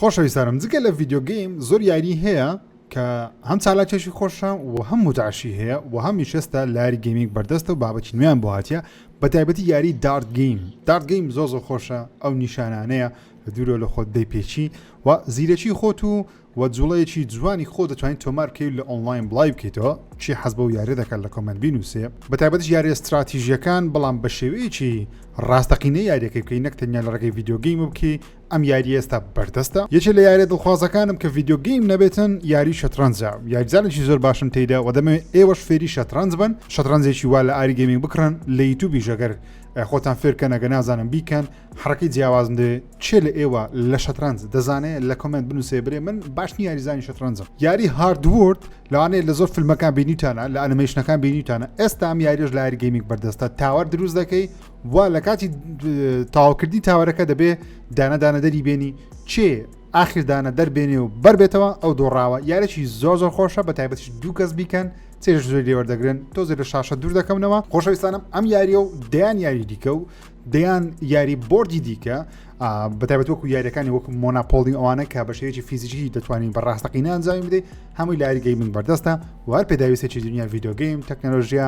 خۆشەویستانم جگە لە ڤیدیۆ گەیم زۆر یاری هەیە کە هەم چالاکێکی خۆشە و هەم متعشی هەیە و هەم میشێستا لاری گەیمینگ بەردەستە و بابەتی نوێیان بۆ هاتیە بە تایبەتی یاری دارت گەیم دارت گەیم زۆر زۆر خۆشە ئەو نیشانانەیە لە دوورۆ لە خۆت دەیپێچی و زیرەکی خۆت و و جوڵەیەکی جوانی خۆ دەتوانین تۆمار بکەیت لە ئۆنلاین بڵای بکەیتەوە چی حەز بەو یاری دەکات لە کۆمنت بینوسێ بە تایبەتش یاری استراتیژیەکان بەڵام بە شێوەیەکی ڕاستەقینە یاریەکەی بکەی نەک تەنیا لە ڕێگەی ڤیدیۆ گەیمە بکەی ئەم یاریە ئێستا بەردەستە یەکێ لە یاریە دڵخوازەکانم کە ڤیددیو گەیم نەبێتن یاری شەترەنجە یاریزانێکی زۆر باشم تێدا و دەمەوێت ئێوەش فێری شەترەنج بن شەترەنجێکی وا لە ئاری گەمینگ بکڕن لە یوتوبی ژەگەر خۆتان فێرکەنەگە نازانم بیکەن حڕەکەی جیاوازم دێ چێ لە ئێوە لە شەترەنج دەزانێت لە کۆمنت بنووسێ برێ من باش نیاریزانی شەترەنجم یاری هاردورد لەوانەیە لە زۆر فیلمەکان بینیتانە لە ئەنمەیشنەکان بینیتانە ئێستا ئەم یاریش لاری گەیمێک بەردەستە تاوەر دروست دەکەی وا لە کاتی تاواکردنی تاوەرەکە دەبێ دانەدانە دەری بێنی چێ ئاخردانە دەربێنێ و بەربێتەوە ئەو دۆڕاوە یارێکی زۆر زۆر خۆشە بە تایبەتش دوو کەس بیکەن چێژ زۆر لێوەردەگرن تۆزێ لە شاشە دوور دەکەمنەوە خۆشەویستانم ئەم یاریە و دەیان یاری دیکە و دەیان یاری بردی دیکە بەتابەت وەکو یاریەکانی وەکو مۆناپۆلی ئەوانە کە بە شێوەیەکی فیزیکی دەتوانین بە ڕاستەقینە ئەنجامی بدەیت هەمووی لاری گەیمنگ بەردەستە وار پێداویستێکی دنیا یددیوگەیم تەکنەلۆژیە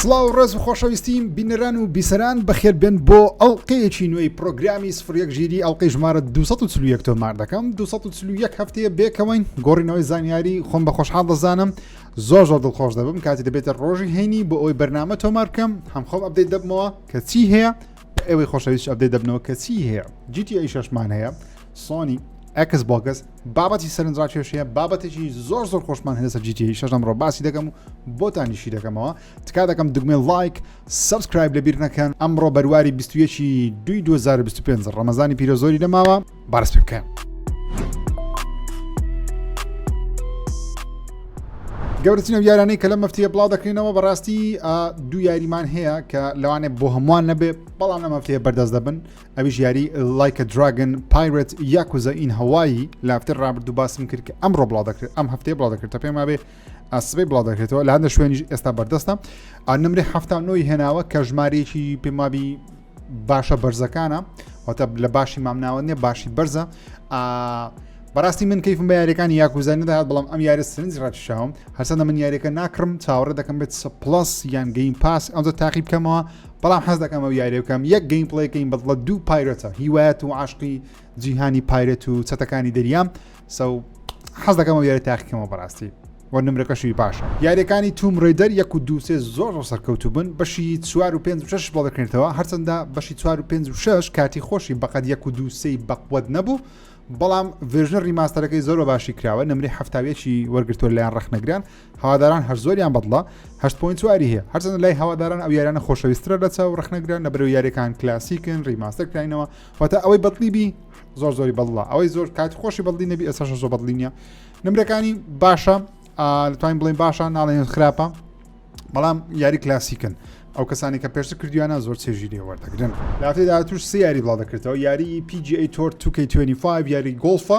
سڵاو ڕێز و خۆشەویستیم بینەران و بیسەران بەخێربێن بۆ ئەڵلقەیەکی نوێی پرۆگرامی سفرەک ژیری ئەڵلقەی ژمارە 240 تۆمار دەکەم 240 هەفتەیە بێکەوەین گۆڕینەوەی زانیاری خۆم بە خۆشحاڵ دەزانم زۆر زۆر دڵخۆش دەبم کاتی دەبێتە ڕۆژی هەینی بۆ ئەوی بەرنامە تۆمار بکەم هەم خۆم ئەبدەیت دەبمەوە کە چی هەیە ئەوەی خۆشەویست ئەبدەیت دەبنەوە کە چی هەیە جیتی ئەی شەشمان هەیە سۆنی ئەکس بۆگەس بابەتی سەرنجڕاکی کێشەیە بابەتێکی زۆر زۆر خۆشمان هەیە سەر جیتی شەش ئەمڕۆ باسی دەکەم و بۆتانیشی دەکەمەوە تکا دەکەم دگمێ لایک سبسکرایب لە بیر نەکەن ئەمڕۆ بەرواری 21 دوی 2025 ڕەمەزانی پیرە زۆری نەماوە بارس پێ بکەن گەورترینە یارانەی کە لە مەفتیە بڵاو دەکرێنەوە بەڕاستی دوو یاریمان هەیە کە لەوانێ بۆ هەمووان نەبێ بەڵام لە مەفتەیە بەردەست دەبن ئەویش یاری لایکە دراگن پایرەت یاکوزە ئین هەوایی لە هەفتەی ڕابردوو باسم کرد کە ئەمڕۆ بڵاو دەکرێت ئەم هەفتەیە بڵاو دەکرێت تا پێما بێ ئاسبەی بڵاو دەکرێتەوە لە هەندە شوێنیش ئێستا بەردەستە نمرێ هەفتا نۆی هێناوە کە ژمارەیەکی پێمابی باشە بەرزەکانە واتە لە باشی مامناوە نیە باشی بەرزە بەڕاستی من کەیفم بە یاریەکانی یاکوزانانی داهات بەڵام ئەم یاری سرنج ڕاتشاوم هەرسەندە من یاریەکە ناکڕم چاوەڕێ دەکەم بێت سە پلس یان گەین پاس ئەمزە تاقی بکەمەوە بەڵام حەز دەکەم ئەو یاریە بکەم یەک گەیم پڵی کەین بەڵە دوو پایرەتە هیوایەت و عاشقی جیهانی پایرەت و چەتەکانی دەریام سەو حەز دەکەم ئەو یاری تاقیکەمەوە بەڕاستی وە نمرەکەشی باشە یاریەکانی توم ڕێدەر یەک و دووسێ زۆر ڕۆ سەرکەوتو بن بەشی چوار و پێنج شش بۆ دەکرێتەوە هەرچەندە بەشی چوار و پێنج و شش کاتی خۆشی بەقەت یەک و دووسەی بەقوت نەبوو بەڵام ڤێژنە ڕیماستەرەکەی زۆر باشی کراوە نمری هەفتاویەکی وەرگتووە لایەن ڕخنەگران هەواداران هەر زۆریان بەدڵە هەشت پوین چواری هەیە هەرچەند لای هەواداران ئەو یارانە خۆشەویسترە لە چاو ڕخنەگرە نە بەرەو یاریەکان کلاسیکن ڕیماستەر کراینەوە واتە ئەوەی بەدڵی بی زۆر زۆری بەڵڵە ئەوەی زۆر کات خۆشی بەڵی نەبی ئەسەش زۆ بەڵی نیە نمرەکانی باشە لەتوانین بڵین باشە ناڵێن خراپە بەڵام یاری کلاسیکن ئەو کەسانی کە پێشتر کردویانە زۆر چێژی لێ وەردەگرن لاتێدا توش سیاری بڵاو دەکرێتەوە یاری PGA تۆر 2K25 یاری گۆڵفە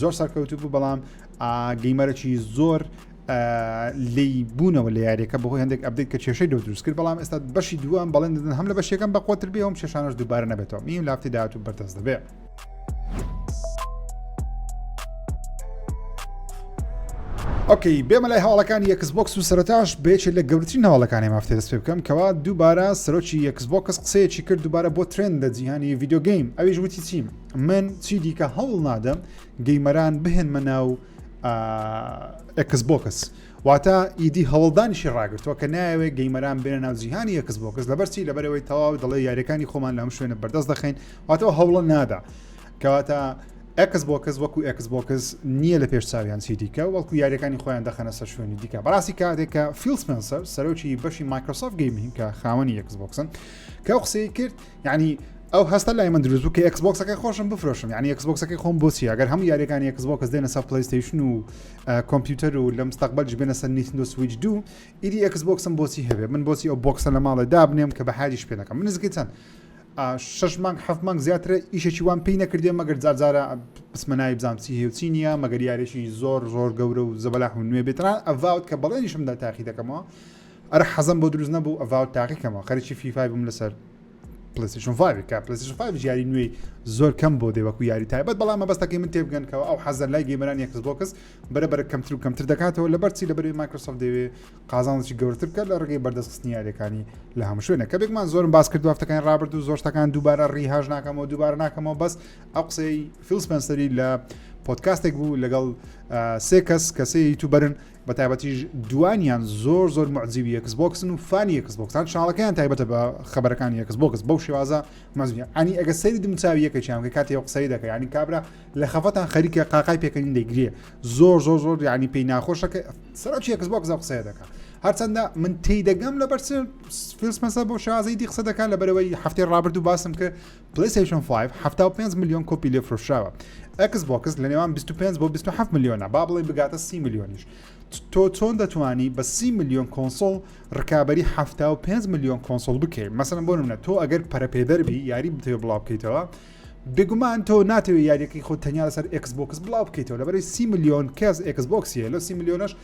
زۆر سەرکەوتو بوو بەڵام گەیمەرەی زۆر لی بوونەوە لە یاریەکە بەهۆی هەندێک ئەبدیت کە کێشەی دو دروست کرد بەڵام ئێستا بەشی دووان بەڵێن دەدن هەم لە بەشێکم بە قوتر بێ هەم شێشانش دووبارە نەبێتەوە میم لافتی داات و بەردەست دەبێت. ئۆکەی بێمە لای هەواڵەکانی یەکسبکس و سەرتاش بێچێت لە گەورترین هەواڵەکانی مافتێ دەست پێ بکەم کەوا دووبارە سەرۆکی یەکسبکس قسەیەکی کرد دووبارە بۆ ترند لە جیهانی یددیوگەیم ئەویش وتی چیم من چی دیکە هەوڵ نادەم گەیمەران بهێنمە ناو ئەکس بۆکس واتە ئیدی هەوڵدانیشی ڕاگرتووە کە ناوێ گەیمەران بێنە ناو جیهانی یەکس بۆکس لەبەرچی لەبەرەوەی تەواو دەڵێ یاریەکانی خۆمان لەم شوێنە بەردەست دەخین واتەوە هەوڵە نادا کەواتە ئەکس بۆکس وەکو ئەکس بۆکس نییە لە پێش چاویان چی دیکە وەکو یاریەکانی خۆیان دەخەنە سەر شوێنی دیکە بەڕاستی کاتێکە فیلسپنسەر سەرۆکی بەشی مایکرۆسۆف گەیمین کە خاوەنی یەکس بۆکسن کە قسەی کرد یعنی ئەو هەستە لای من دروست کە ئەکسبکسەکە خۆشم بفرۆشم یعنی ئەکسبکسەکەی خۆم بۆچی ئەگەر هەموو یاریەکانی ئەکسبکس دێنە سەر پلیستیشن و کۆمپیوتەر و لە مستەقبل جبێنە سەر نیتندۆ سویچ دوو ئیدی ئەکسبکسم بۆچی هەبێ من بۆچی ئەو بۆکسە لە ماڵێ دابنێم کە بە هاریش پێ دەکەم منزگەی چەند شش مانگ حەف مانگ زیاترە ئیشێکی وان پێی نەکردێ مەگەر جارجارە بسمە ناوی بزانام چی هێوچی نییە مەگەر یارێکی زۆر زۆر گەورە و زەبەلاح و نوێ بێتران ئەڤاوت کە بەڵێنیشمدا تاخی دەکەمەوە ئەرە حەزم بۆ دروست نەبوو ئەڤاو تاقی کەمەوە خەرکی فیفای بووم لەسەر پلیسیشن فاویکە پلیسیشن فاوی یاری نوێی زۆر کەم بۆ دێ وەکو یاری تایبەت بەڵام مەبەستەکەی من تێبگەنکەوە ئەو حەزەر لای گەمەران یەکس بۆکس بەرە بەرە کەمتر و کەمتر دەکاتەوە لە بەرچی لە بەری مایکرۆسۆف دەوێ قازانڵکی گەورتر بکە لە ڕگەی بەردەستخستنی یاریەکانی لە هەموو شوێنە کە بێکمان زۆرم باس کرد هەفتەکان ڕابرد و زۆر شتەکان دووبارە ڕیهاش ناکەمەوە دووبارە ناکەمەوە بەس ئەو قسەی فیلسپەنسەری لە پۆتکاستێک بوو لەگەڵ سێ کەس کەسەیە یوتوبەرن بەتایبەتیش دوانیان زۆر زۆر معجیبی ئێکس بۆکسن و فانی ئێکس بۆکسان چاڵەکەیان تایبەتە بە خبرەکانی ئێکس بۆکس بەو شێوازە مەزنیە ئەنی ئەگە سەری دمچوی یەکەیان کە کاتی قسەی دەکە ینی کابرا لە خەفەتان خەریکە قاقای پێکەنی دەگرێ زۆر زۆر زۆر ینی پێی ناخۆشەکە سەرکی ئێکس بۆکس قسەیە دەکە هەرچەندە من تێدەگەم لە بەرچ فیلسمەسە بۆ شازەی دی قسە دەکات لە بەرەوەی هەفتەی ڕابرد و باسم کرد پلەیستەیشن فایڤ حەفتا و پێنج ملیۆن کۆپی لێ فرۆشراوە ئەکس بۆکس لە نێوان 25 بۆ 27 ملیۆنە با بڵێ بگاتە سی ملیۆنیش تۆ چۆن دەتوانی بە سی ملیۆن کۆنسۆڵ ڕکابی حەفتا و پێنج ملیۆن کۆنسۆڵ بکەیت مەسەن بۆ منە تۆ ئەگەر پەرەپێدەربی یاری بتێ بڵاو بکەیتەوە بێگومان تۆ ناتەوێت یاریەکەی خۆ تەنیا لەسەر ئەکس بۆکس بڵاو بکەیتەوە لەبەری سی ملیۆن کەس ئەکس بۆکسیە لە سی ملیۆنش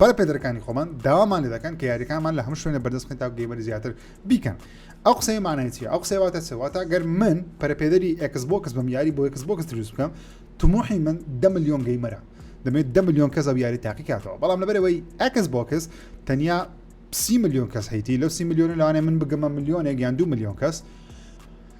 پەرە پێدەرەکانی خۆمان داوامان لێ دەکەن کە یاریەکانمان لە هەموو شوێنە بەردەست خێن تا گەیمەری زیاتر بیکەن ئەو قسەی مانایەتی ئەو قسەواتە سەواتە گەر من پەرپێدەری ئەکس بۆکس بم یاری بۆ ئەکس بۆکس دروست بکەم تموحی من دە میلیۆن گەیمەرە دەمێت دە میلیۆن کەس ئەو یاری تاقی کاتەوە بەڵام لەبەرەوەی ئەکس بۆکس تەنیا سی میلیۆن کەس هەیتی لەو سی میلیۆن لەوانێ من بگەمە میلیۆنێک یان دو میلیۆن کەس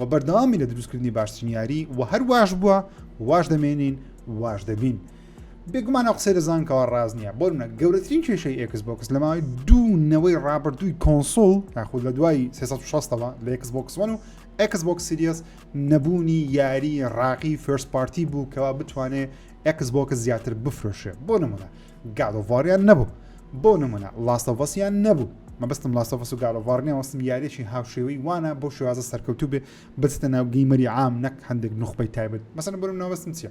و بەردەوامی لە دروستکردنی باشترین یاری و هەر واش بووە واش دەمێنین واش دەبین بێگومان ئەو قسەی دەزانکەوە ڕاز نییە بۆ منە گەورەترین کێشەی ئێکس بۆکس لە ماوەی دوو نەوەی ڕابردووی کۆنسۆڵ یاخود لە دوای 360ەوە لە ئێکس بۆکسوەن و ئەکس بۆکس سریس نەبوونی یاری ڕاقی فرس پارتی بوو کەوا بتوانێت ئەکس بۆکە زیاتر بفرۆشێ بۆ نمونە گادۆڤاریان نەبوو بۆ نمونە لاستەڤەسیان نەبوو مەبستم لاستەڤەس و گادۆڤارنیان وەستم یاریێکی هاوشێوەی وانە بۆ شێوازە سەرکەوتوو بێ بچتە ناو گەیمەری عام نەک هەندێک نخبەی تایبەت مەسەن بۆ ناوەستم چیە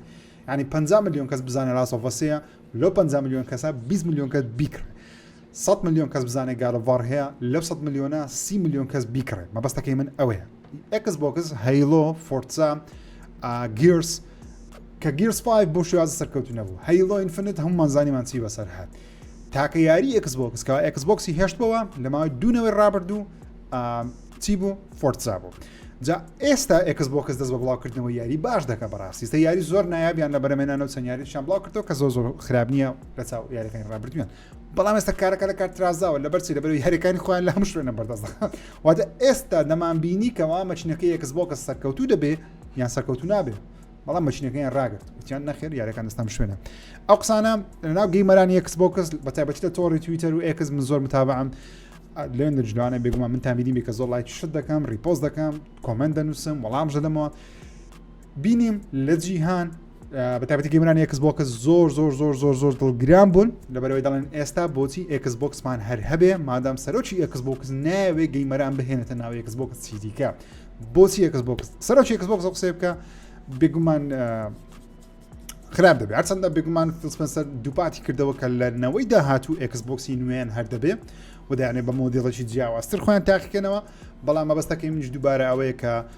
ینی 50 میلیۆن کەس بزانێت لاستەڤەسەیە لەو 50 میلیۆن کەسە 20 میلیۆن کەس بیکرێت 100 میلیۆن کەس بزانێت گارەڤار هەیە لەو 100 میلیۆنە سی میلیۆن کەس بیکڕێت مەبەستەکەی من ئەوەیە ئێکس بۆکس هەیلۆ فۆرتزا گیرس کە گیرس 5 بۆ شێوازە سەرکەوتو نەبوو هەیلۆ ئینفنت هەمومان زانیمان چی بەسەر هات تاکە یاری ئێکس بۆکس کە ئێکس بۆکسی هێشتەوە لە ماوەی دوونەوەی ڕابردوو چی بوو فۆرتزا بوو جا ئێستا ئێکس بۆکس دەست بە بڵاوکردنەوە یاری باش دەکە بەڕاستیستە یاری زۆر نایابیان لە بەرەمێنانەوە چەند یاریشان بڵاو کردەوە کە زۆر زۆر خراپ نییە لە چاو یاریەکانی ڕابردویان بەڵام ئێستا کارەکە لە کار ترازاوە لە بەرچی لە بەروی هەرەکانی خۆیان لە هەم شوێنە بەردەست واتە ئێستا دەمان بینی کەوا مەچنەکە یەکس بۆکە سەرکەوتوو دەبێ یان سەرکەوتو نابێت بەڵام مەچنەکەیان ڕاگرت وتیان نەخێر یارەکان دەستان شوێنە ئەو قسانە لەناو گەیمەران یەکس بۆکەس بە تایبەتی لە تۆڕی تویتەر و ئێکس من زۆر متابعم لێن دەجدوانە بێگومان من تامیدی بێکە زۆر لایک شت دەکەم ریپۆز دەکەم کۆمنت دەنووسم وەڵام ژەدەمەوە بینیم لە جیهان بەتابەتی گەمرانی ئەکس بۆکە زۆر زۆر زۆر زۆر زۆر دڵگران بوون لەبەرەوەی دەڵێن ئێستا بۆچی ئەکس بۆکسمان هەر هەبێ مادام سەرۆکی ئەکس بۆکس ناوێ گەیمەران بهێنێتە ناو ئەکس بۆکس چیدیکە بۆچی ئەکس بۆکس سەرۆکی ئەکس بۆکس قسێ بکە بێگومان خراپ دەبێت هەرچەندە بێگومان فلسپەنسەر دووپاتی کردەوە کە لە نەوەی داهاتوو ئەکس بۆکسی نوێن هەر دەبێ ودایانێ بە مۆدیڵەکی جیاوازتر خۆیان تاقیکەنەوە بەڵام مەبەستەکەی منش دووبارە ئەوەیە کە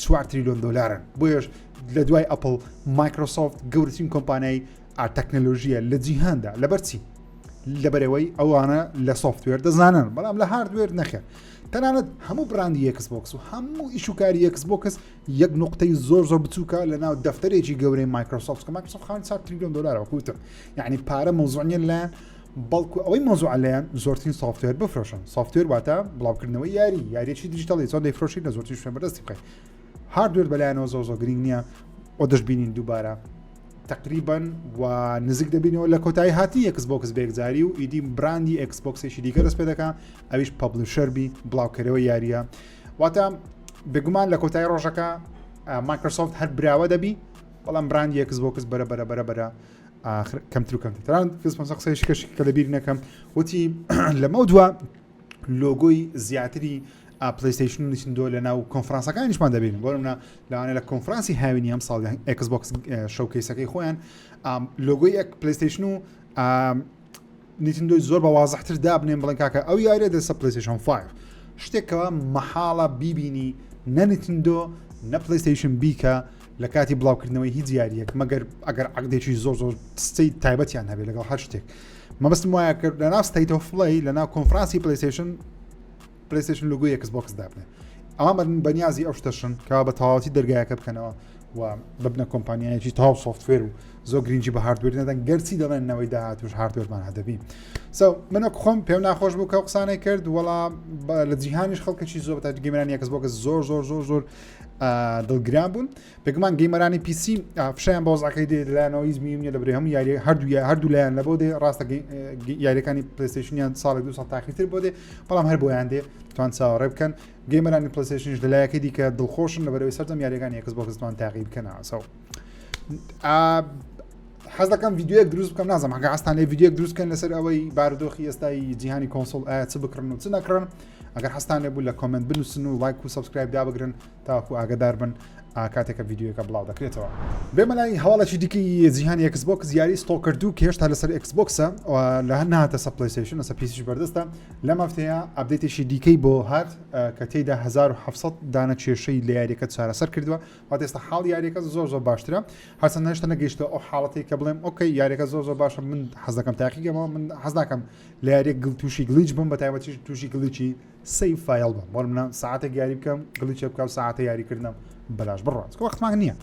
چوار تریلیۆن دلارن بۆیش لە دوای ئەپل مایکرۆسۆفت گەورترین کۆمپانیای ئاتەکنەلۆژیە لە جیهاندا لەبەرچی لەبەرەوەی ئەوانە لە سوفتوێر دەزانن بەڵام لە هاردوێر نەخێن تەنانەت هەموو براندی یەکس بۆکس و هەموو ئیشوکاری یەکس بۆکس یەک نقطەی زۆر زۆر بچووکە لە ناو دەفتەرێکی گەورەی مایکرۆسۆفت کە مایکرۆسۆفت خان 4 تریلیۆن دلارەوە کوتە یعنی پارە مۆزۆنیە لایەن بەڵکو ئەوەی مەوزوعە لێیان زۆرترین سافتوێر بفرۆشن سافتوێر واتە بڵاوکردنەوەی یاری یاریی دیجیتەڵی زۆر دەیفرۆشی لە زۆرترین شوێن بەدەستی بخەیت هاردوێر بەلایەنەوە زۆر زۆر گرنگ نییە و دەشببینین دووبارە تقریبن و نزیک دەبینەوە لە کۆتایی هاتی ئەکس بۆکس بێکزاری و ئیدی براندی ئەکس بۆکسێکی دیکە دەست پێ دەکە ئەویش پبلیشەربی بڵاوکەرەوە یاریە واتە بێگومان لە کۆتایی ڕۆژەکە مایکرسۆفت هەر براوە دەبی بەڵام براندی ئەکس بۆکس بەرە بەرە بەرە بەرە ئاخر کەمتر و کەمتر تەنان فیل سپنسەر قسەیەکی کەش کە لەبیر نەکەم وتی لەمەو دووە لۆگۆی زیاتری پلیستیشن و نشندۆ لە ناو کۆنفرانسەکانیشمان دەبین بۆ منە لەوانە لە کۆنفرانسی هاوینی ئەم ساڵ ئەکسبکس شەوکەیسەکەی خۆیان لۆگۆی پلیستیشن و نیتندۆی زۆر بە وازحتر دابنێن بڵێن کاکە ئەو یاریە دەسە پلیسیشن 5 شتێکەوە مەحاڵە بیبینی نەنیتندۆ نە پلیستیشن بیکە لە کاتی بڵاوکردنەوەی هیچ یاریەک مەگەر ئەگەر عقدێکی زۆر زۆر ستی تایبەتیان هەبێت لەگەڵ هەر شتێک مەبستم وایە کرد لەناو ستیت فڵی لەناو کۆنفرانسی پلیسیشن پلیستشن لوگو یەکس بۆکس دابنێ ئامرن بەنیازی ئەو شتەشن کا بە تەواوەتی دەرگایەکە بکەنەوە و ببنە کۆمپانیایەکی تاو سوفتێر و زۆ گرنگجی بە هاردوێر نەدەن گەرچی دەڵێنەوەی داهاتوش هاردوێرمان هەدەبی سو منە خۆم پێ ناخۆش بوو کە قسانەی کرد وەڵا لە جیهانیش خەڵکەی زۆر تا گەمران یەکس بۆکە زۆر زۆر زۆر زۆر دڵگران بوون بێگومان گەیمەرانی پیسی فشیان بە وەزعەکەی دێت لەلایەنەوەی زمیوم نیە دەبرێ هەموو یاری هەردوو هەردوو لایەن لە بۆ دێ ڕاستە یاریەکانی پلستیشنیان ساڵێک دو ساڵ تاخیتر بۆ دێ بەڵام هەر بۆیان دێ توان چاوەڕێ بکەن گەیمەرانی پلستیشنش لەلایەکەی دیکە دڵخۆشن لە بەرەوەی سەرجەم یاریەکان یەکس بۆ کەستوان تاقی بکەنەوەسەوە حەز دەکەم یددیوە دروست بکەم نازم هەگە ئاستان لە یددیوە دروستکەن لەسەر ئەوەی بارودۆخی ئێستای جیهانی کۆنسۆل ئایا چ بکڕن و چ نەکڕن ئەگەر حستانێ بوو لە کۆمنت بنووسن و لایک و سبسکرایب دابگرن تاکو ئاگدار بن ئاکاتێکە یددیوەکە بڵاو دەکرێتەوە بێمە لای هەواڵێکی دیکە زیهان یکسبک یاری ستۆ کردو کە هێشتا لەسەر ئەکسبکسە لە هەر ناتە سە پلیسیشن لەسە پیسیش بەردەستە لە مافتەیە ئەبدێتێکی دیکەی بۆ هات کە تێدا 1970 دانە کێشەی لە یاریەکە چارەسەر کردووە وات ئێستا حاڵ یاریەکە زۆر زۆر باشترە هەسە نەشتە نەگەیشتە ئەو حاڵەتی کە بڵێم ئۆکەی یاریەکە زۆر زۆر باشە من حەزەکەم تاقیگەمەوە من حەزناکەم لە یاریە گڵ تووشی گلیچ بم بە تایبەتی تووشی گلیچی سەیڤ فایڵ بم بۆر منە ساعتێک یاری بکەم گڵی چێ بکەم ساعتە یاریکردنم بەلاش بڕات وەختمان نییە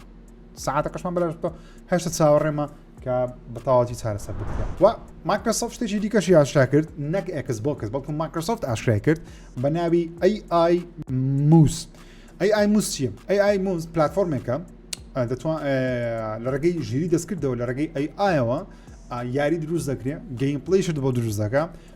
ساعتە قشمان بەلاش بکە هەشتا چاوەڕێمە کە بەتاواتی چارەسەر بکە و ماکرسۆفت شتێکی دیکەش یاشا کرد نەک ئەکس بۆکەس بەڵکو ماکرسۆفت ئاشرای کرد بە ناوی ئەی ئای موس ئەی ئای موس چیە ئەی ئای موس پلتفۆرمێکە دەتوان لە ڕێگەی ژیری دەستکردەوە لە ڕێگەی ئەی ئایەوە یاری دروست دەکرێت گەیم پلیشت بۆ دروست دەکە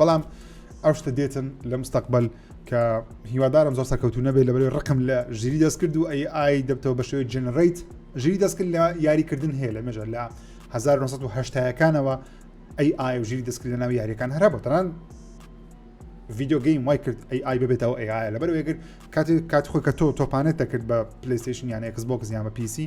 بەڵام ئەو شتە دێتن لە مستەقبل کە هیوادارم زۆر سەکەوتو نەبێت لە بەرەوەی ڕقم لە ژیری دەست کرد و ئەی ئای دەبتەوە بە شێوەی جنریت ژیری دەستکرد لە یاریکردن هەیە لە مێژە لە 1970ەکانەوە ئەی ئای و ژیری دەستکرد لە ناو یاریەکان هەرە بەتەران ڤیددیو گەیم وای کرد ئەی ئای ببێتەوە ئەیە لەبەر وێگر کاتی کات خۆی کە تۆ تۆپانێت دەکرد بە پلیستیشن یان ئەکس بۆکس یان بە پیسی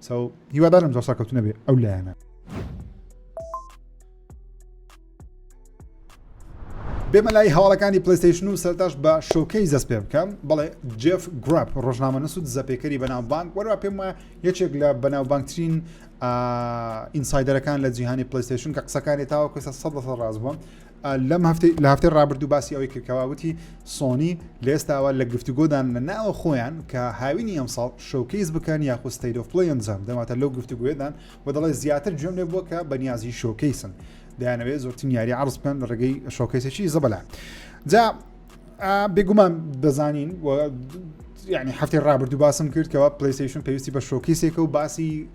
سو هیوادارم زۆر سەرکەوتو نەبێ ئەو لایەنە. بێمە لای هەواڵەکانی پلیستیشن و سەرتاش بە شۆکەی زەست پێ بکەم بەڵێ جف گرپ ڕۆژنامە نسود زەپێکەری بەناوبانک وەرا پێم وایە یەکێک لە بەناوبانگترین ئینسایدەرەکان لە جیهانی پلیستیشن کە قسەکانی تاوە کوێسە سە ڕاز بووم لەم هەفتەی لە هەفتەی ڕابردوو باسی ئەوەی کرد کەوا وتی سۆنی لە ئێستاوە لە گفتوگۆدان لە ناوە خۆیان کە هاوینی ئەمساڵ شۆکەیز بکەن یاخود ستەیت ئۆف پلەی ئەنجام دەواتە لەو گفتوگوێدان و دەڵێ زیاتر گوێم لێ بووە کە بەنیازی شۆکەیسن دەیانەوێت زۆرترین یاری عرض بکەن لە ڕێگەی شۆکەیسێکی زەبەلا جا بێگومان دەزانین یعنی هەفتی ڕابردوو باسم کرد کەەوە پلیسیشن پێویستی بە شۆکیسێکە و باسی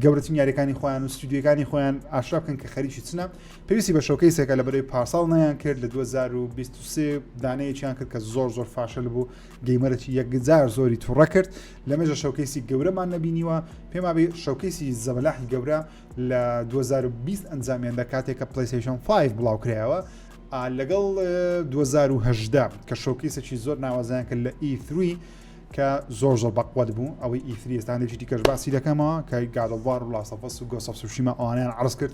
گەورەترین یاریەکانی خۆیان و ستودیەکانی خۆیان ئاشرا بکەن کە خەریکی چنە پێویستی بە شۆکەیسێکە لە بەرەی پارساڵ نیان کرد لە 2023 دانەیەکیان کرد کە زۆر زۆر فاشل بوو گەیمەرەی یەکجار زۆری توڕە کرد لە مێژە شۆکەیسی گەورەمان نبینیوە پێما بێ شۆکەیسی زەبەلاحی گەورە لە 2020 ئەنجامیان لە کاتێک کە پلیسیشن 5 بڵاو کرایەوە لەگەڵ 2010 کە شۆکەیسێکی زۆر ناوازیان کرد لە E3 کە زۆر زۆر بەقوت بوو ئەوەی ئیفریستانێکی دیکەش باسی دەکەمەوە کە گادڵوار و لاسەفەس و گۆسەفسوشیمە ئەوانیان عرز کرد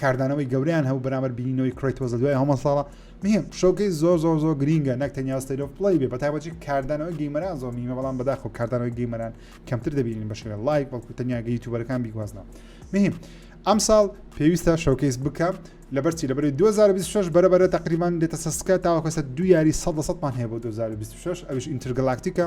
کاردانەوەی گەورەیان هەبوو بەرامبەر بینینەوەی کرەیتۆس لە دوای هەمە ساڵە مهم شەوکەی زۆر زۆر زۆر گرینگە نەک تەنیا ستەیل ئۆف پڵەی بێ بەتایبەتی کاردانەوەی گەیمەران زۆر مهمە بەڵام بەداخەوە کاردانەوەی گەیمەران کەمتر دەبینین بە شێوە لایڤ بەڵکو تەنیا گە یوتیوبەرەکان بیگوازنەوە مهم ئەم ساڵ پێویستە شەوکەیس بکە لەبەرچی لەبەری 2026 بەرەبەرە تقریبان دێتە سەسکە تاوەکەسە دو یاری 100 سەمان هەیە بۆ 2026 ئەوش ئینترگەلاکتیکە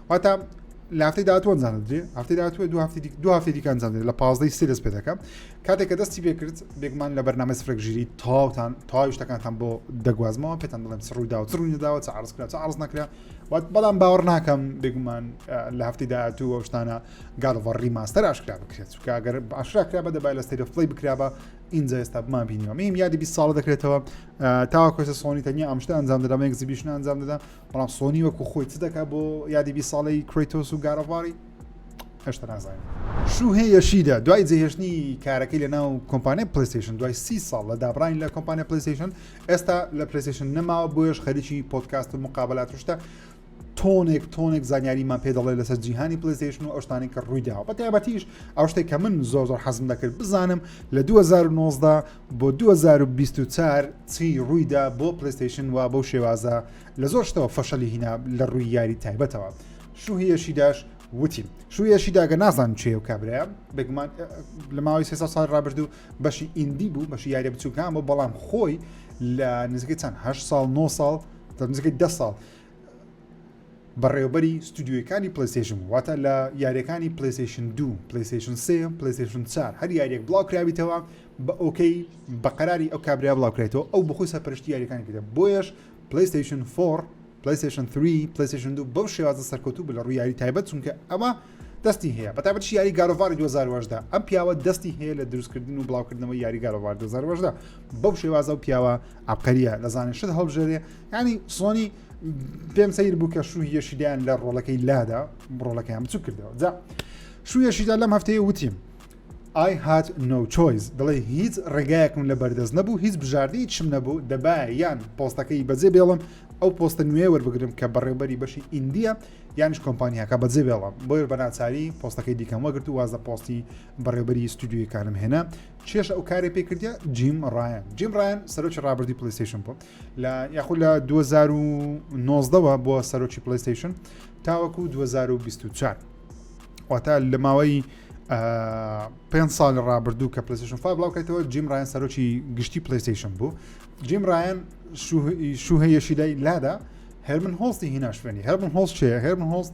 واتا لە هەفتەی داهاتوە ئەنجامدرێ هەفتەی داهاتوە دو هەفتی دو هەفتی دیکە ئەنجامدرێ لە پازدەی سێ دەست پێ دەکەم کاتێک کە دەستی پێ کرد بێگومان لە بەرنامە سفرێک ژیری تاوتان تاوی شتەکانتان بۆ دەگوازمەوە پێتان دڵێم سڕووی داوە سڕوو نەداوە چ عرض کرا چ عرض نەکرا وات بەڵام باوەڕ ناکەم بێگومان لە هەفتی داهاتوو ئەو شتانە گاڵڤڕی ماستەر ئاشکرا بکرێت چکە گەر باشرا کرا بە دەبای لە سری فڵی بکرا بە ئینجا ئێستا بمان بینیەوە میم یادی 20 ساڵە دەکرێتەوە تاوا کۆسە سۆنی تەنیا ئەمشتە ئەنجام دەدام ئەگزیبیشن ئەنجام دەدام بەڵام سۆنی وەکو خۆی چ دەکات بۆ یادی بی ساڵی کرێتۆس و گارەڤاری هێشتا نازانین شوهێ یەشیدا دوای جێهێشتنی کارەکەی لە ناو کۆمپانیای پلیستیشن دوای سی ساڵ لە دابراین لە کۆمپانیا پلیستیشن ئێستا لە پلیستیشن نەماوە بۆیش خەریکی پۆتکاست و مقابلات شتە تۆنێک تۆنێک زانیاریمان پێ دەڵێ لەسەر جیهانی پلیستیشن و ئەوشتانی کە ڕوویداوە بە تایبەتیش ئەو شتێک کە من زۆر زۆر حەزم دەکرد بزانم لە 2009دا بۆ دوو هەزار و بیست و چوار چی ڕوویدا بۆ پلەیستەیشن وا بەو شێوازە لە زۆر شتەوە فەشەلی هینا لە ڕووی یاری تایبەتەوە شوهیەشی داش وتی شوهیەشی داگە نازان چێ و کابراە بگومان لە ماوەی سێ ساڵ ڕابردوو بەشی ئیندی بوو بەشی یاری بچووکان بۆ بەڵام خۆی لە نزیکەی چەند هە ساڵ 9 ساڵ نزیکەی ده ساڵ بەڕێوەبەری ستودیۆیەکانی پلەیستەیشن بوو واتە لە یاریەکانی پلەیستەیشن دوو پلەیستەیشن سێ پلەیستەیشن چار هەر یاریەک بڵاوکراویتەوە بە ئۆکەی بە قەراری ئەو کابرا بڵاوکرێتەوە ئەو بخۆی سەرپەرشتی یاریەکانی کردە بۆیەش پلەیستەیشن فۆڕ پلەیستەیشن تری پلەیستەیشن دوو بەو شێوازە سەرکەوتوو بە لە ڕووی یاری تایبەت چونکە ئەمە دەستی هەیە بە تابەت یاری گارۆڤاری 2010 ئەم پیاوە دەستی هەیە لە دروستکردن و بڵاوکردنەوە یاری گارۆڤار 2010 بەو شێوازە و پیاوە عبقەریە لەزانێ شت هەڵبژێرێ ینی سۆنی پێم سیر بوو کە شوو یەشیدایان لە ڕۆڵەکەی لادا ڕۆڵەکەیان بچوو کردەوە جا شوو یەشیدا لەم هەفتەیە وتیم I had no choice دڵێ هیچ ڕێگایەکم لە بەردەست نەبوو هیچ بژاردەی چم نەبوو دەبا یان پۆستەکەی بەجێ بێڵم ئەو پۆستە نوێ وەربگرم کە بەڕێوبەری بەشی ئیندیە یانش کۆمپانیاکە بەجێ بێڵم بۆیە بەناچاری پۆستەکەی دیکەم وەگرت و وازە پۆستی بەڕێوبەری ستودیویەکانم هێنا چێش ئەو کارێ پێکردە جیم ڕایان جیم ڕایان سەرۆکی ڕابردی پلیسیشن بوو لە یاخود لە 2019ەوە بۆ سەرۆکی پلیستیشن تاوەکو 2024 واتە لە ماوەی پێ ساڵ ڕابردوو کە پلیستیشن فا بڵاوکەیتەوە جیم ڕایان سەرۆکی گشتی پلیستیشن بوو جیم ڕایان شوهەیەشیدای لادا هەرمن هۆستی هیناشوێنی هەرمن هۆست چێ هەرمن هۆست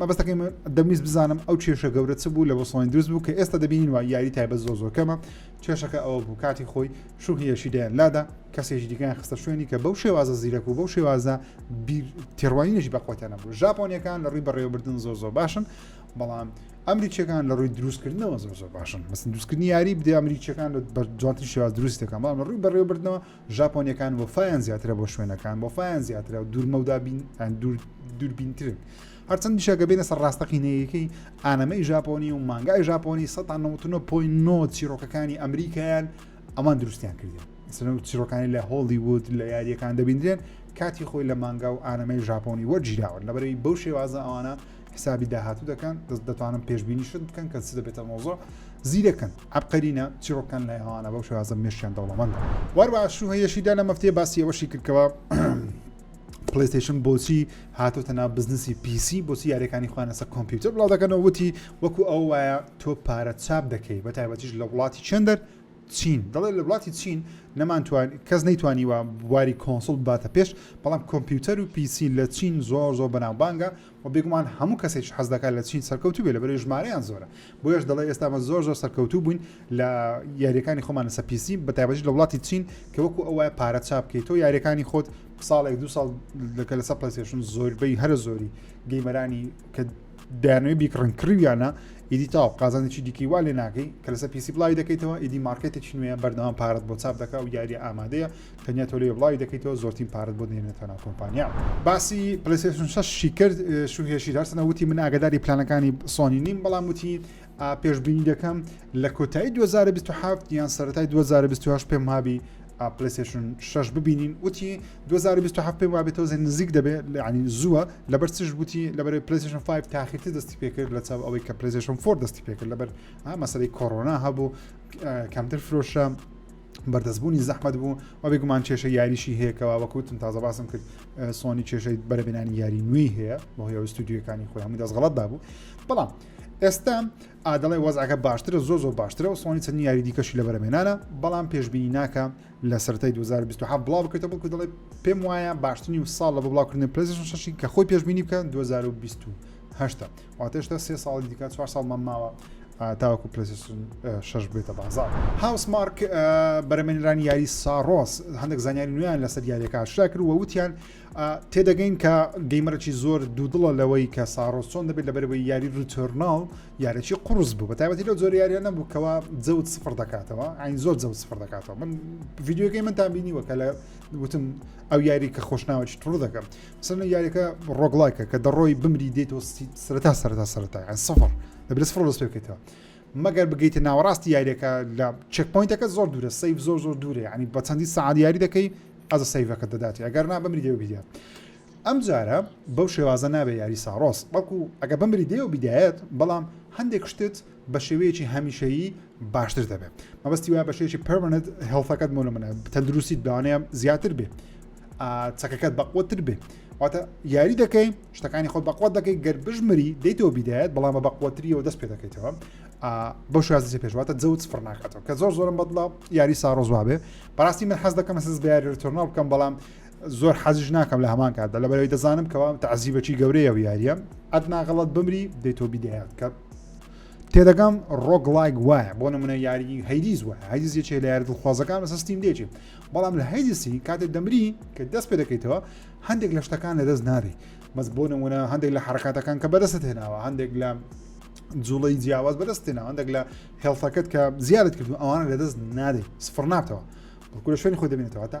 مەبەستەکەی من دەمویست بزانم ئەو کێشە گەورە چ بوو لە بۆسڵۆین دروست بوو کە ئێستا دەبینین وە یاری تایبەت زۆ زۆکەمە کێشەکە ئەوە بوو کاتی خۆی شوخیەشی دەیان لادا کەسێکی دیگەیان خستە شوێنی کە بەو شێوازە زیرەک و بەو شێوازە تێڕوانینێکی بەخۆتیانە بوو ژاپۆنیەکان لە ڕووی بەڕێوەبردن زۆر زۆر باشن بەڵام ئەمریکیەکان لە ڕووی دروستکردنەوە زۆر زۆر باشن بەسن دروستکردنی یاری بدە ئەمریکیەکان بە جوانتر شێواز دروستەکان بەڵام لە ڕووی بەڕێوەبردنەوە ژاپۆنیەکان وەفایان زیاترە بۆ شوێنەکان وەفایان زیاترە دوورمەودا دووربینترن هەرچەند دیشەکە بێنە سەر ڕاستەقینەیەکەی ئانەمەی ژاپۆنی و مانگای ژاپۆنی 1999 چیرۆکەکانی ئەمریکایان ئەمان دروستیان کردن سەر چیرۆکانی لە هۆڵیوود لە یاریەکان دەبیندرێن کاتی خۆی لە مانگا و ئانەمەی ژاپۆنی وەرگیراوە لەبەرەوەی بەو شێوازە ئەوانە حسابی داهاتوو دەکەن دەست دەتوانن پێشببینی شت بکەن کە چ دەبێتە مۆزۆ زیرەکەن عبقەرینە چیڕۆکان لە ئەوانە بەو شازە مێشیان دەوڵەمەند واروا شو هەیەشیدا لە مەفتێ باسی ئەوەشی کردکەوە پلیستیشن بۆچی هاتۆتە ناو بزنسی پیسی بۆچی یاریەکانی خوانەسە کۆمپیوتەر بڵاو دەکەنەوە وتی وەکو ئەو وایە تۆ پارە چاپ دەکەی بە تایبەتیش لە وڵاتی چندەر چین دەڵێ لە وڵاتی چین نەمانتوان کەس نەیتوانیوە بواری کۆنسڵ باتە پێش بەڵام کۆمپیوتەر و پیسی لە چین زۆر زۆر بەناوبانگە وە بێگومان هەموو کەسێکیش حەز دەکات لە چین سەرکەوتوو بێت لەبەرئەوەی ژمارەیان زۆرە بۆیەش دەڵێ ئێستا ئەمە زۆر زۆر سەرکەوتوو بووین لە یاریەکانی خۆمان لەسە پیسی بە تایبەتی لە وڵاتی چین کە وەکو ئەو وایە پارە چاپ بکەیت تۆ یاریەکانی خۆت ساڵێک دو ساڵ لەکە لەسە پلسێشن زۆربەی هەرە زۆری گەیمەرانی کە دایانەوەی بیکڕن کڕیویانە ئیدی تاو قازانێکی دیکەی وا لێ ناکەی کە لەسەر پیسی بڵاوی دەکەیتەوە ئیدی مارکێتێکی نوێە بەردەوام پارەت بۆ چاپ دەکە و یاریە ئامادەیە تەنیا تۆ لێ بڵاوی دەکەیتەوە زۆرتین پارەت بۆ دەینێتە ناو کۆمپانیا باسی پلەیستێشن شەشی کرد شوهێشی هەرچەندە وتی من ئاگداری پلانەکانی سۆنی نیم بەڵام وتی پێشبینی دەکەم لە کۆتایی 2027 یان سەرەتای 2028 پێم هابی پلەیستێشن شەش ببینین وتی 2027 پێم وابێتەوە زێن نزیک دەبێت لەعنی زووە لەبەر چش بوتی لەبەر پلەیستێشن 5 تاخیرتی دەستی پێکرد لە چاو ئەوەی کە پلەیستێشن فۆر دەستی پێکرد لەبەر مەسەی کۆرۆنا هەبوو کەمتر فرۆشە بەردەستبوونی زەحمت بوو و بێگومان کێشە یاریشی هەیەکەوە وەکوتم تازە باسم کرد سۆنی کێشەی بەرەبێنانی یاری نوێی هەیە بۆ هەیە ستودیوەکانی خۆی هەموو دەستغڵەتدا بوو بەڵام ئێستا ئادڵێ وەزعەکە باشترە زۆ زۆر باشترە و سۆنی چەند یاری دیکەشی لە بەرەمێنانە بەڵام پێشببینی ناکە لە سەرای 2020 بڵاو بکرێتە بڵکو دەڵێ پێم وایە باشترین و ساڵ لە بڵاوکردن پلسیشی کە خۆی پێشببینی بکەن 2020 هەشتا واتێشتا سێ ساڵی دیکە چوار ساڵمان ماوە تاوەکو پلسیسون شش بێتە بازار هاوس مارک بەرەمێنرانی یاری ساڕۆس هەندێک زانیاری نوێیان لەسەر یاریەکە شا کرد وە وتیان تێدەگەین کە گەیمەرەی زۆر دوودڵە لەوەی کە ساڕۆس چۆن دەبێت لە بەرەوەی یاری ریتۆرناڵ یارێکی قرس بوو بە تایبەتی لە زۆر یاریان نەبوو کەوا جەوت سفر دەکاتەوە ئاین زۆر جەوت سفر دەکاتەوە من ڤیددیوگەی من تابینیوە کە لە وتم ئەو یاری کە خۆشناوەی تڕ دەکەم سنە یاریەکە ڕۆگلایکە کە دەڕۆی بمری دێتەوە سەرتا سەرتا سەرتا یان سفر لە برس فڕۆ دەست پێکەوە مەگەر بگەیتە ناوەڕاستی یاریەکە لە چەکپۆینتەکە زۆر دوورە سیف زۆر زۆر دوورە ینی بە چەندی سعاد یاری دەکەی ئەز سیفەکە دەداتی ئەگەر نا بمری دێو بیدات ئەم جارە بەو شێوازە نابێ یاری ساڕۆس بەڵکو ئەگە بمری دێو بدایەت بەڵام هەندێک شتت بە شێوەیەکی هەمیشەیی باشتر دەبێت مەبەستی وایە بە شێوەیەکی پەرمەنت هێڵفەکەت مۆ لە منە تەندروستیت بەوانەیە زیاتر بێ چەکەکەت بەقوتر بێ واتە یاری دەکەی شتەکانی خۆت بەقوت دەکەی گەر بژمری دەیتەوە بیدایەت بەڵام بە بەقوتریەوە دەست پێ دەکەیتەوە بۆ شازی پێشواتە جەوت سفر ناکاتەوە کە زۆر زۆرم بەدڵە یاری ساڕۆزوا بێ بەڕاستی من حەز دەکەم سز بە یاریتۆرناڵ بکەم بەڵام زۆر حەزیش ناکەم لە هەمان کاتدا لە بەرەوەی دەزانم کەوا تەعزیبەکی گەورەیە و یاریە ئەت ناغەڵت بمری دەیتۆ بیدایات کە تێدەگەم ڕۆک لایک وایە بۆ نمونە یاری هەیدیز وە هەیدیز یەکێ لە یاری دڵخوازەکان لەسە ستیم دێکی بەڵام لە هەیدیسی کاتێ دەمری کە دەست پێ دەکەیتەوە هەندێک لە شتەکان لە دەست ناری بەس بۆ نمونە هەندێک لە حرکاتەکان کە بەدەست هێناوە هەندێک لە جوڵی جیاواز بەدەستێنەوە هەندێک لە هێڵتەکەت کە زیادت کردو ئەوان لە دەست نادەیت سفر نابتەوە بەکورە شوێنی خۆ دەبێنێتەوە تا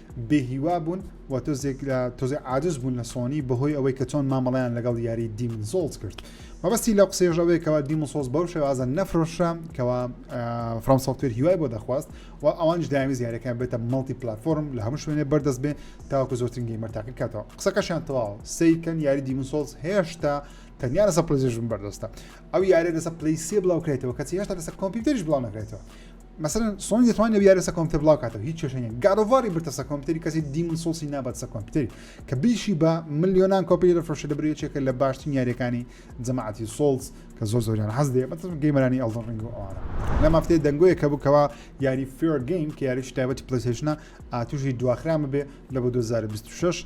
بێ هیوا بوون و تۆزێک لە تۆزێ عادز بوون لە سۆنی بەهۆی ئەوەی کە چۆن مامەڵیان لەگەڵ یاری دیمن سۆڵز کرد مەبەستی لە قسەیەش ئەوەیەکەوە دیمن سۆز بەو شێوازە نەفرۆشە کەوا فرام سوفتێر هیوای بۆ دەخواست و ئەوانش داوی زیارەکان بێتە مڵتی پلتفۆرم لە هەموو شوێنێ بەردەست بێ تاوەکو زۆرترین گەیمەرتاقی کاتەوە قسەکەشیان تەواو سیکەن یاری دیمن سۆز هێشتا تەنیا لەسە پلزیژم بەردەستە ئەو یارێ لەسە پلیسیە بڵاوکرێتەوە کەسی هێشتا لەسەر کۆمپیوتەریش بڵاو نەکرێتەوە مەسەلەن سۆنی دەتوانێت ئەو یارە سە کۆمپیوتەر بڵاو کاتەوە هیچ کێشەی نیە گاد ئۆف واری بردە سە کۆمپیوتەری کەسی دیمن سۆڵسی نابات سە کۆمپیوتەری کە بیشی بە ملیۆنان کۆپی دەفرۆشێ دەبرێ یەکێکە لە باشترین یاریەکانی جەماعەتی سۆڵز کە زۆر زۆریان حەز دێ بەتەم گەیمەرانی ئەڵدن ڕینگ و ئەوانە لە مافتێ دەنگۆیە کە بکەوە یاری فێر گەیم کە یاریش تایبەتی پلیسێشنە ئاتوشی دواخرامە بێ لە بۆ 2026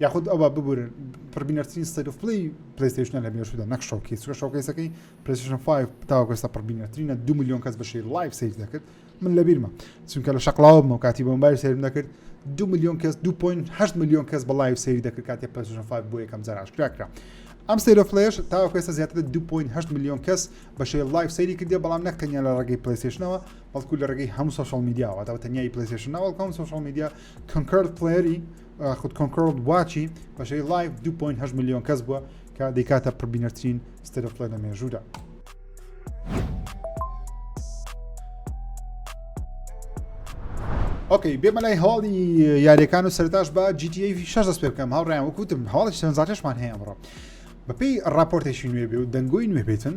یاخود ئەوە ببورە پڕبینەرترین ستەیت ئۆف پلەی پلەیستەیشنە لە مێژوودا نەک شۆکەی سوە شۆکەیسەکەی پلەیستەیشن 5 تاوەکو ئێستا پڕبینەرترینە دو میلیۆن کەس بە شێر لایڤ سەیر دەکرد من لە بیرمە چونکە لە شەقلاوە بمەوە کاتی بۆم بای سەیرم دەکرد دو میلیۆن کەس 2.8 میلیۆن کەس بە لایڤ سەیری دەکرد کاتی پلەیستەیشن 5 بۆ یەکەم جار ئاشکرا کرا ئەم سەیرۆ فلش تاوەکو ئێستا زیاتر لە 2.8 میلیۆن کەس بە شێر لایڤ سەیری کردی بەڵام نەک تەنیا لە ڕێگەی پلەیستەیشنەوە بەڵکو لە ڕێگەی هەموو سۆشال میدیاوە تاوە تەنیایی پلەیستەیشن ناوەڵکەم سۆشال میدیا کۆنکرد پلەری خود کۆنکۆڵ بواچی بەشەی لایف 2.8 میلیۆن کەس بووە کە دیکاتە پربینەرترین ستەرفڵە لە مێژوودا. ئۆکەی بێمە لای هەواڵی یاریەکان و سەرتاش بە GTA شش دەست پێ بکەم هاوڕیان وکوتم هەواڵی سەنجارشمان هەیە ئەمڕۆ بەپی راپۆرتێکی نوێ بێ و دەنگۆی نوێ بێتن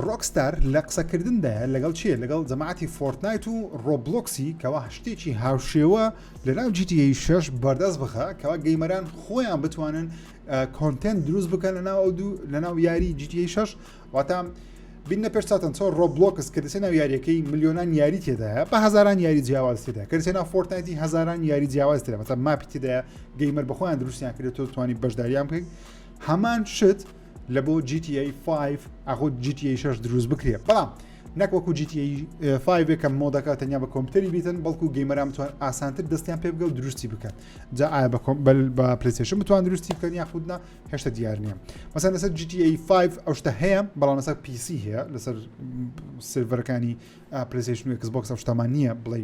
ڕۆکستار لە قسەکردندایە لەگەڵ کێ؟ لەگەڵ جەماعەتی فۆڕتنایت و ڕۆبڵۆکسی کەوا شتێکی هاوشێوە لەناو جی تی ئەی شەش بەردەست بخا کەوا گەیمەران خۆیان بتوانن کۆنتێنت دروست بکەن لەناو ئەو دوو لەناو یاری جی تی ئەی شەش واتا بینە پێش چاتەن چۆن ڕۆبلۆکس کە دەچێت ناو یاریەکەی میلیۆنان یاری تێدایە بە هزاران یاری جیاواز تێدا کە دەچێت ناو فۆرتنایتی هزاران یاری جیاواز تێدا بەتە ماپی تێدایە گەیمەر بەخۆیان دروستیان کرێت تۆ توانی بەشداریان بکەیت هەمان شت لە بۆ GTA 5 ئاخۆ GTA 6 دروست بکرێ بەڵام نەک وەکو GTA 5 کە مۆدەکە تەنیا بە کۆمپیوتەری بیتن بەڵکو گەیمەران بتوان ئاسانتر دەستیان پێ بگە و دروستی بکەن جا ئایا بە کۆمبل بە پلیسشن بتوان دروستی بکەن یاخودنا هێشتا دیار نییە مەسەن لەسەر GTA 5 ئەو شتە هەیە بەڵام لەسەر پیسی هەیە لەسەر سرڤەرەکانی پلیسشن و کسبکس ئەو شتەمان نییە بڵێ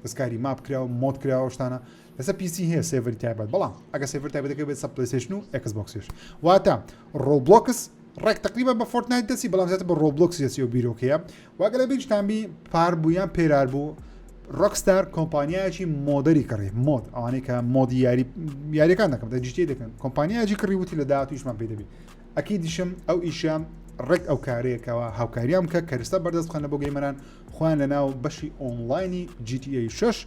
دەستکاری ماپ کراوە مۆد کراوە شتانە بەسە پیسی هەیە سێڤەری تایبەت بەڵام ئەگە سێڤەر تایبەتەکە بێت سە پلیسشن و ئەکس بۆکسش واتە ڕۆبلۆکس ڕێک تقریبا بە فۆرتنایت دەسی بەڵام زیاتر بە ڕۆبلۆکس دەسی و بیرۆکەیە واگە لە بیرتانبی پار بوو یان پێرار بوو ڕکستار کۆمپانیایکی مۆدەری کڕی مۆد ئەوانەی کە مۆدی یاری یاریەکان دەکەم دە جیتی دەکەن کۆمپانیایکی کڕی وتی لە دااتویشمان پێ دەبی ئەکی دیشم ئەو ئیشە ڕێک ئەو کارێکەوە هاوکاریان کە کەرستە بەردەستخانە بۆ گەیمەران خۆیان لە ناو بەشی ئۆنلاینی GTA 6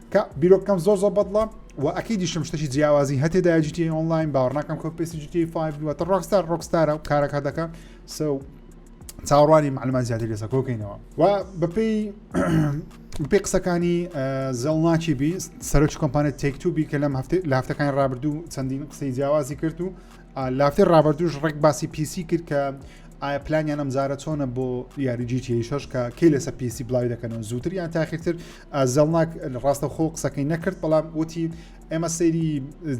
کە بیرۆکەکەم زۆر زۆر بەدڵە و ئەکی دیشم شتەی جیاوازی هەتێ داجیتی ئۆنلاین باڕناکەم کۆ پێسی جیتی فیوەتە ڕۆکستار ڕۆکستارە و کارەکە دەکە سە چاوەڕوانی معلومان زیاتر لەسە کۆکەینەوە و بەپی پێ قسەکانی زەڵناچی بی سەرۆکی کۆمپانێت تێکتوبی کە لەم هەفتێ لە هەفتەکانی ڕابردوو چەندین قسەی جیاوازی کرد و لافتی ڕابردوش ڕێک باسی پیسی کرد کە ئایا پلانیان ئەمزارە چۆنە بۆ یاری جیتی شش کە کەی لەسە پیسی بڵاوی دەکەنەوە زووتر یان تاخیرتر زێڵناک ڕاستەوخۆ قسەکەی نەکرد بەڵام وتی ئێمە سەیری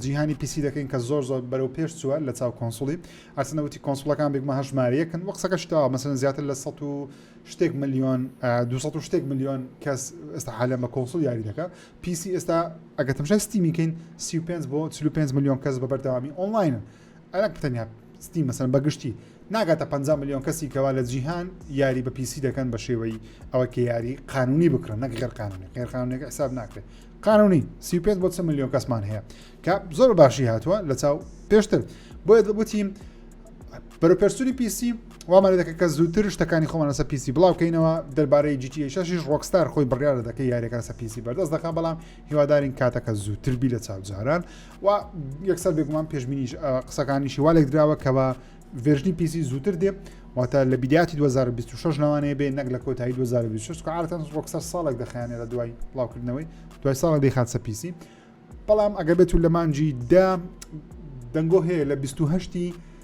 جیهانی پیسی دەکەین کە زۆر زۆر بەرەو پێش چووە لە چاو کۆنسوڵی ئەرسنەوتی کۆنسوڵەکان بێکمە هەژمارەکن و قسەکە شتەوە مەسەن زیاتر لە 100 شتێک میلیۆن 200 شتێک میلیۆن کەس ئێستا حالە بە کۆنسول یاری دەکە پیسی ئێستا ئەگە تەمشای ستیمیکەین 35 بۆ 45 میلیۆن کەس بە بەردەوامی ئۆنلاینە عێراق تەنیا ستیم مەسەن بەگشتی ناگاتە 50 ملیۆن کەسی کەوا لە جیهان یاری بە پیسی دەکەن بە شێوەی ئەوە کە یاری قانونی بکرن نەک غێر قانونی غێر قانونێک حساب ناکرێت قانونی سی پێ بۆ چ ملیۆن کەسمان هەیە کە زۆر باشی هاتووە لە چاو پێشتر بۆیە دەبوتیم بەرەپەرسوری پیسی وامانە دەکە کە زووتر شتەکانی خۆمان لەسە پیسی بڵاوکەینەوە دەربارەی جیتیشش ڕۆکستار خۆی بڕیاە دەکە یاریەکە سە پیسی بەردەست دەکە بەڵام هیوادارین کاتەکە زووتربی لە چاوجاران و یەکسەر بێگومان پێشببینیش قسەکانیشی وا لێک دراوە کە بە ڤێژنی پیسی زووتر دێ واتە لە بیداتی 2026 لەوانەیە بێ نەک لە کۆتایی 2026 عادەتەن ڕۆکسەر ساڵێک دەخیانێ لە دوای بڵاوکردنەوەی دوای ساڵە دەیخاتسە پیسی بەڵام ئەگەر بێت و لە مانجی دا دەنگۆ هەیە لە 28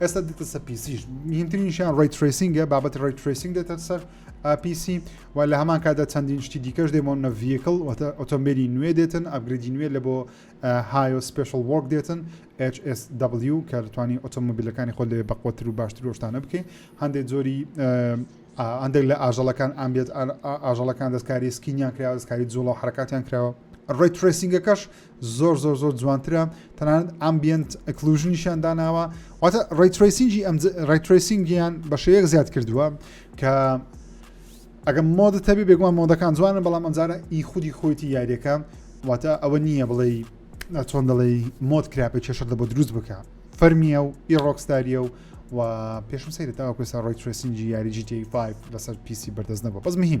ئێستا دیتە سە پیسیش مهمترینشیان ڕی تریسینگە بابەت ڕی تریسینگ دێتە سەر پیسی و لە هەمان کادا چەندین شتی دیکەش دێمەوە نە ڤیکل ئۆتۆمبیلی نوێ دێتن ئەبگریدی نوێ لە بۆ هایۆ سپیشل وۆک دێتن HSW کە توانی ئۆتۆمبیلەکانی خۆ لێ بەقوتر و باشتر وشتانە بکەین هەندێک زۆری هەندێک لە ئاژەڵەکان ئامبێت ئاژەڵەکان دەستکاری سکینیان کرا دەستکاری جوڵە و حرکاتیان کراوە ڕێ ترسینگەکەش زۆر زۆر زۆر جوانترە تەنانەت ئەمبیەنت ئەکلوژنیشیان داناوە واتە ڕیتریسینجی ئەم ڕیتریسینگیان بە شێوەیەک زیاد کردووە کە ئەگەم مۆدە تەبی بێگومان مۆدەکان جوانە بەڵام ئەمجارە ئی خودی خۆیتی یاریەکە واتە ئەوە نییە بڵێ چۆن دەڵێ مۆد کراپە کێشەر دە بۆ دروست بکە فەرمیە و ئی ڕۆکستاریە و و پێشم سەیرە تاوەکوێسا ڕۆی ترسینجی یاری جیتی 5 لەسەر پیسی بەردەست نەبوو بەس مهم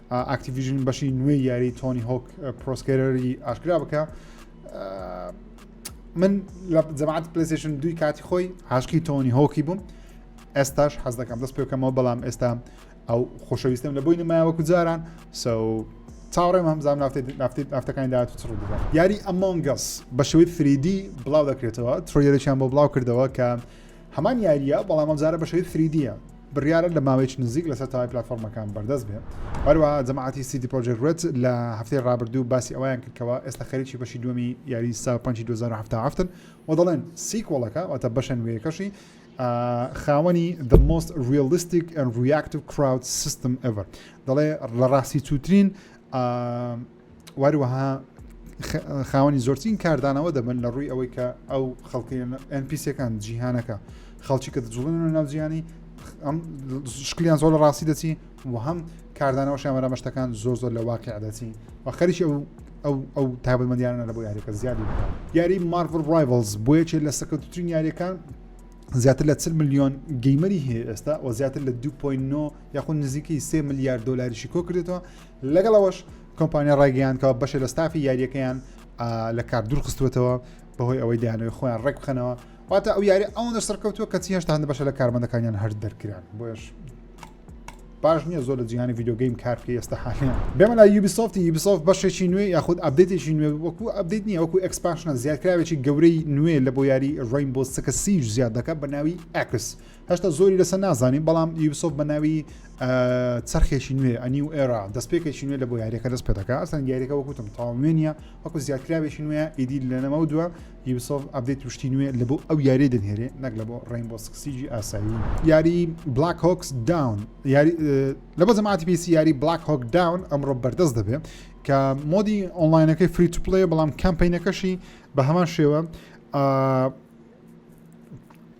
ئاکتیڤیژن بەشی نوێی یاری تۆنی هۆک پرۆسکێرەری ئاشکرا بکە من لە جەماعات پلیسشن دوی کاتی خۆی هاشکی تۆنی هۆکی بووم ئێستاش حەز دەکەم دەست پێکەمەوە بەڵام ئێستا ئەو خۆشەویستم لە بۆی نمایوەکو جاران سە چاوەڕێم هەمزان نافتەکانی داات و چڕ دەبات یاری ئەمۆنگەس بە شوی فریدی بڵاو دەکرێتەوە ترۆیەرەیان بۆ بڵاو کردەوە کە هەمان یارییە بەڵام ئەمجارە بە شێوەی فریدیە بڕیارە لە ماوەیەکی نزیک لەسەر تاوای پلتفۆرمەکان بەردەست بێت هەروە جەماعتی سیدی پرۆژێک رێت لە هەفتەی ڕابردوو باسی ئەویان کردکەوە ئێستا خەریکی بەشی دومی یاری سا 5 2017 و دەڵێن سیکۆڵەکە واتە بەشە نوێیەکەشی خاوەنی the most realistic and reactive crowd system ever دەڵێ لە ڕاستی چوترین وەروەها خاوەنی زۆرترین کاردانەوە دەبن لە ڕووی ئەوەی کە ئەو خەڵکی NPCەکان جیهانەکە خەڵکی کە دەجوڵن لە ناوجیانی ئەم شکلیان زۆر لە ڕاستی دەچی و هەم کاردانەوە شامەرا مەشتەکان زۆر زۆر لە واقع دەچی و خەریکی ئەو ئەو ئەو تابمەدیانە لە بۆ یاریەکە زیادی بکە یاری مارڤل ڕایڤلز بۆیەکێ لە سەکەوتترین یاریەکان زیاتر لە 40 میلیۆن گەیمەری هەیە ئێستا و زیاتر لە 2.9 یاخود نزیکەی سێ ملیار دلاریشی کۆکرێتەوە لەگەڵ ئەوەش کۆمپانیا ڕایگەیاندکەوە بەشێ لە ستافی یاریەکەیان لە کار دوورخستوێتەوە بەهۆی ئەوەی دەیانەوەی خۆیان ڕێک بخەنەوە واتە ئەو یاری ئەوەندە سەرکەوتووە کە چی هێشتان بەشە لە کارمەندەکانیان هەر دەرکران بۆش باش نییە زۆر لە جیهانی یددیوگەیم کارکە ئێستا حالیان بێمە لە یوبیسۆفتی یوبیسۆف بەشێکی نوێ یاخود ئەبدێتێکی نوێ وەکو ئەبدیت نیە وەکو ئەکسپاشنە زیادکراوێکی گەورەی نوێ لە بۆ یاری ڕین بۆ سەکە سیج زیاد دەکە بە ناوی ئەکس هەشتا زۆری لەسە نازانین بەڵام یوبسۆف بە ناوی چرخێکی نوێ ئەنی و ئێرا دەستپێکێکی نوێ لە بۆ یاریەکە دەست پێ دەکە ئەسان یاریەکە وەکوتم تاو نوێنە وەکو زیاتراوێکی نوێ ئیدی لەنەمە و دووە یوبسۆف ئەبدەیت توشتی نوێ لە بۆ ئەو یاری دەنهێرێ نەک لە بۆ ڕینبۆ سکسیجی ئاسایی یاری بلاک هۆکس داون یاری لە بۆ زەماتی پێسی یاری بلاک هۆک داون ئەمڕۆ بەردەست دەبێت کە مۆدی ئۆنلاینەکەی فریت پلی بەڵام کەمپینەکەشی بە هەمان شێوە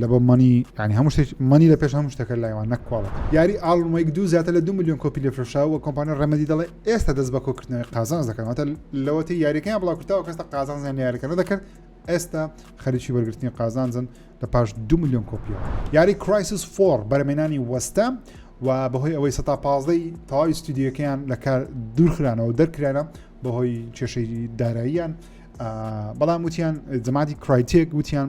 لەبە مەنی ینی هەموو شتێک مەنی لە پێش هەموو شتەکە لایوان نەک کواڵە یاری ئاڵمەیک دوو زیاتر لە دو میلیۆن کۆپی لە فرۆشاوە کۆمپانیا ڕێمەدی دەڵێ ئێستا دەست بە کۆکردنەوەی قازانز دەکەنەوەتە لەوەتی یاریەکەیان بڵاو کرتەوە کەستا قازان زیان یاریەکەەوە دەکرد ئێستا خەریکی وەرگرتنی قازانزن لە پاش دو میلیۆن کۆپیەوە یاری کرایسس فۆر بەرمێنانی وەستە و بەهۆی ئەوەی سە پازدەی تەواوی ستودیەکەیان لە کار دوورخرانەوە دەرکرانە بەهۆی کێشەی داراییان بەڵام وتیان جەمادی کرایتێک وتیان